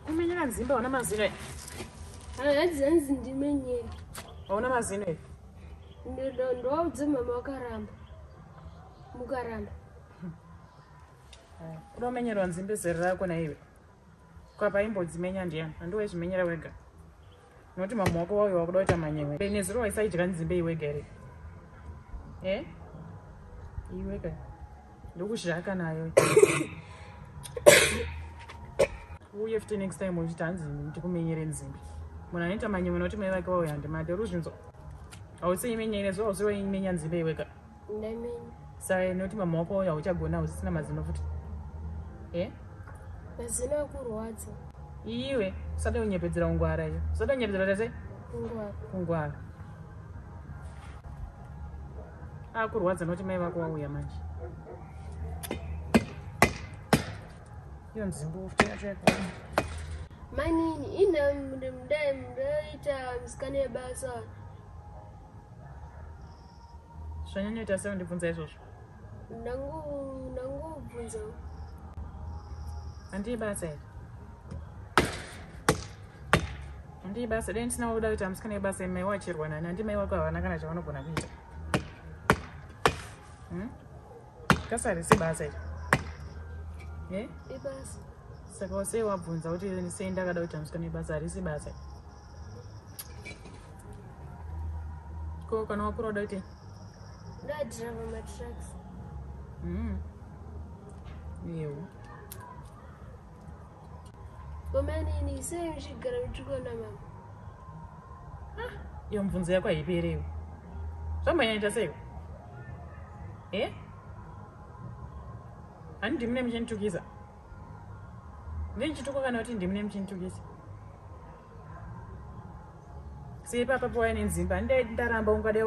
kumenyera nzimba hauna mazino e haadzi hanzi ndimenyere hauna mazino e ndoaudze mama wakaramba mukaramba unomenyerwa nzimbe zero rako naive kwapa imbodzimenya ndiyani handiwe zvimenyera wega Noti mama wako wauyo wakuda kuita manyewe. Bene zero waisaidya nzimbe iwe gere. Eh? Iwe ka. Ndokuzhaka nayo. Uye futi next time uchiti hanzi ndikumenyere nzimbe. Munhu anoita manyewe noti mai vake wauyo handimade. Ruzvinzo. Hausi imenyere zero hausi waimenya nzimbe iwe ka. Nemi. Sai noti mama wako wauya uchagona usisina mazino futi. Eh? Mazino akurwadza. Iwe usada unyepedzera ungwara iyo. Usada unyepedzera tese? Ungwara. Ungwara. Akurwadza noti mai vako wauya manje. Iyo nzimbo futi yacho yakona. Manini ina mdai mdai ta mskane basa. zvanyanyoita sei undibvunza izvozvo ndangobvunza handii basa iri handii basa dai ndisina kuda kuita musikana ibasa imai wachirwa nani handi mai wako havana kana chavanogona kuita hmm? kasari si basa iri eh? ibasa saka wasei wabvunza kuti sei ndakada kuita musikana ibasa harisi basa iri ko kana wakura uda kuitei ndadriva matracks mm. yewo komanini sei muchigara muchikona mama ah, iyo mubvunzo yako haiperewo zvambanyaita seiko e eh? handiti mune muchanditukisa Ndinchituko kana kuti ndimi nemuchintukisa. Sei papa pawai nenzimba ndai ndaramba ungadai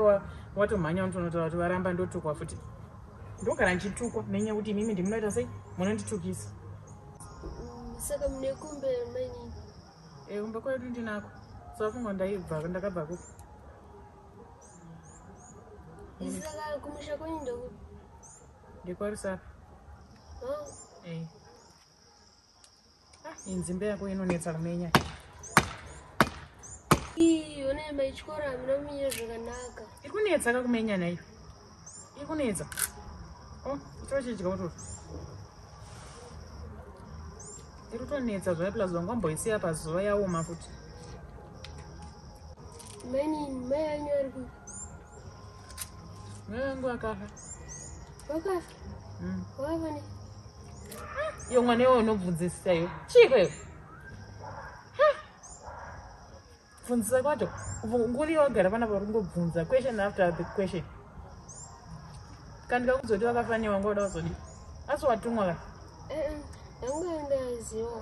watomhanya unotonotaura kuti varamba ndotukwa futi. Ndogara ndichitukwa nenyaya yekuti imimi ndimi munoita sei munonditukisa. Saka mune kumbe mainini? Eh kumbe kwedu ndinako. Saka fungwa ndaibva ndakabva ku. Saka kumusha kwenyu ndokuti ndekwarisa eh. ah, inzimbe yako inonetsa kumenya one maichikoro hamina kumenya zvakanaka iri kunetsa kakumenya naiyo iri kunetsa o oh, tochidya utoro iri kutonetsa zvaya plus vanga mboisiya pazuva yaoma futi mainin mai anyu ari ku Mungu akafa. Wakafa. Mm. Wakafa ne. Yo mwana wewe unobvunzisa yo. Chiko yo. Bvunzisa kwacho. Nguli yogara vana vari kungobvunza question after the question. Kana ndikakuzoti wakafa ne wanga uda kuzodi. Asi watumwa ka? Eh, eh. Yangu ndaziwa.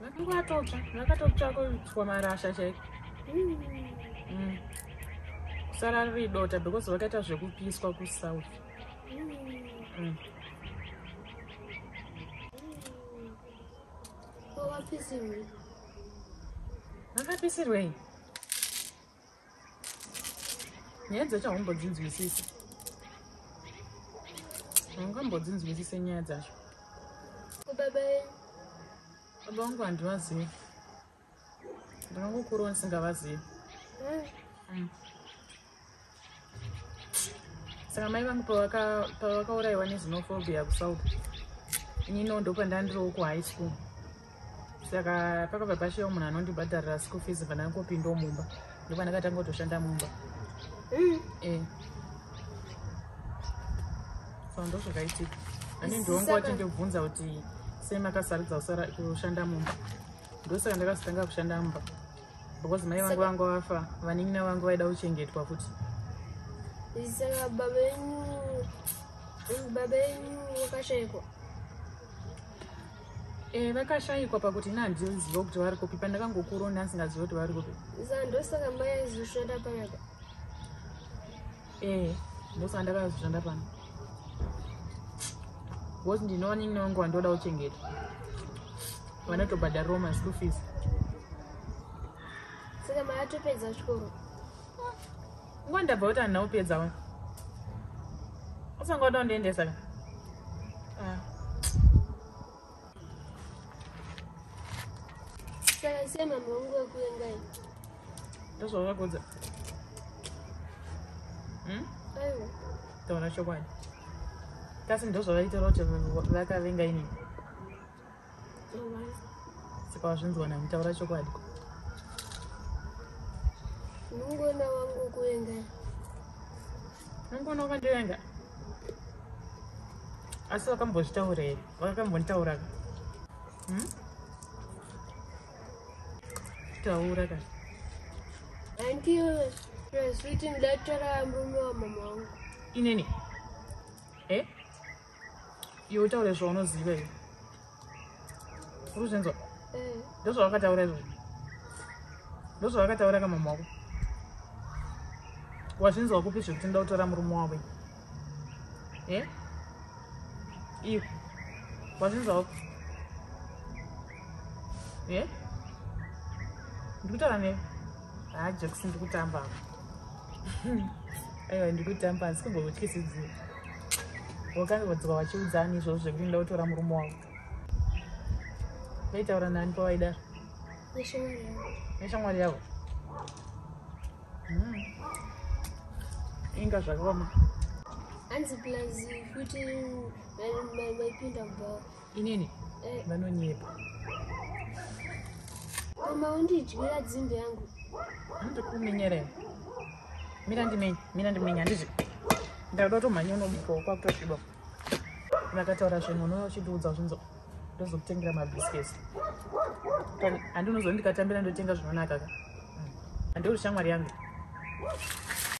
Makumbo atotsva, akatotsva kutswa marasha chaiko. Mm. Kusara riri dota because vakaita zvekupiswa kusouth. Mm. Vakapisirwei? nyaya dzacho haumbodzinzwisisi haungambodzinzwisise nyaya dzacho baba vangu handivazivi ndinongokurowa ndisingavazivi mm. saka mai vangu pavakaurayiwa nezinophobia kusouth inino ndopandandiriwo kuhigh school saka pakabva pashewa munhu anondibhadharira school fees pandangopindawo mumba ndopandakatanga kutoshanda mumba mm. eh. so ndo zvakaitika ani ndionga wati ndibvunza kuti sei makasarudza kushanda mumba ndosaka ndakazotanga kushanda mumba because mai vangu vanga vafa vanin'ina vangu vaida kuchengetwa futi saka baba venyu baba venyu vakashaikwa Eh, vakashaikwa pakuti ina handioziva kuti vari kupi pandakangokurona asingaziva kuti vari kupi sa ndosaka mai aizoshanda panapa eh ndosa ndakazvishanda pano because ndinoona ini wangu wandoda kuchengeta vanotobhadhariwo maschool fees saka maatopedza chikoro nguva ndabva kuti handina kupedzawo usanga uda kundiendesa ka ah. Saka sei mama wangu wekuengai? Ndozvavakonza. Hmm? Aiwa. Taona chokwadi. Kasi ndozvavaita kuti vakavenga ini. Saka wazvinzwa nani taura chokwadi. Nungona wangu wekuengai? Nungona wakandivenga. Asi vakambozvitaura here? wakambonitaura hmm? taura ka antiyo zvekuti ndatora murume wamama wangu inini e eh? iwe utaure zvaunoziva iyo uri zvinzwa eh. ndozvawakataura izvozvo ndozvawakataura kamama wako wazvinzwa kupi zvekuti ndakutora murume wavo Eh? Iwe. Wazvinzwa wako? Eh? Ndikutaura newe. Ah, Jackson ndikutamba. Aiwa ndikutamba asi kumbokutyisidzira. Wakange wadzwa wachiudzani izvozvo zvekuti ndoda kutora murume wako. Vaitaura nani pawaidaro? Neshamwari yavo. Neshamwari yavo. mm. inga zvakaoma hanzi plus kuti vaipinda mba inini eh. vanonyepa koma undidyira dzimbe yangu ndikuminyere mira ndimenye mira ndimenye handizvi ndakuda kutomhanya unomuka kwakutosviba vakataura zvinhu unouya uchindiudza zvinzoo ndozokutengera mabiscuits handi unozondikatambira ndotenga zvinonaka ka handi uri shamwari yangu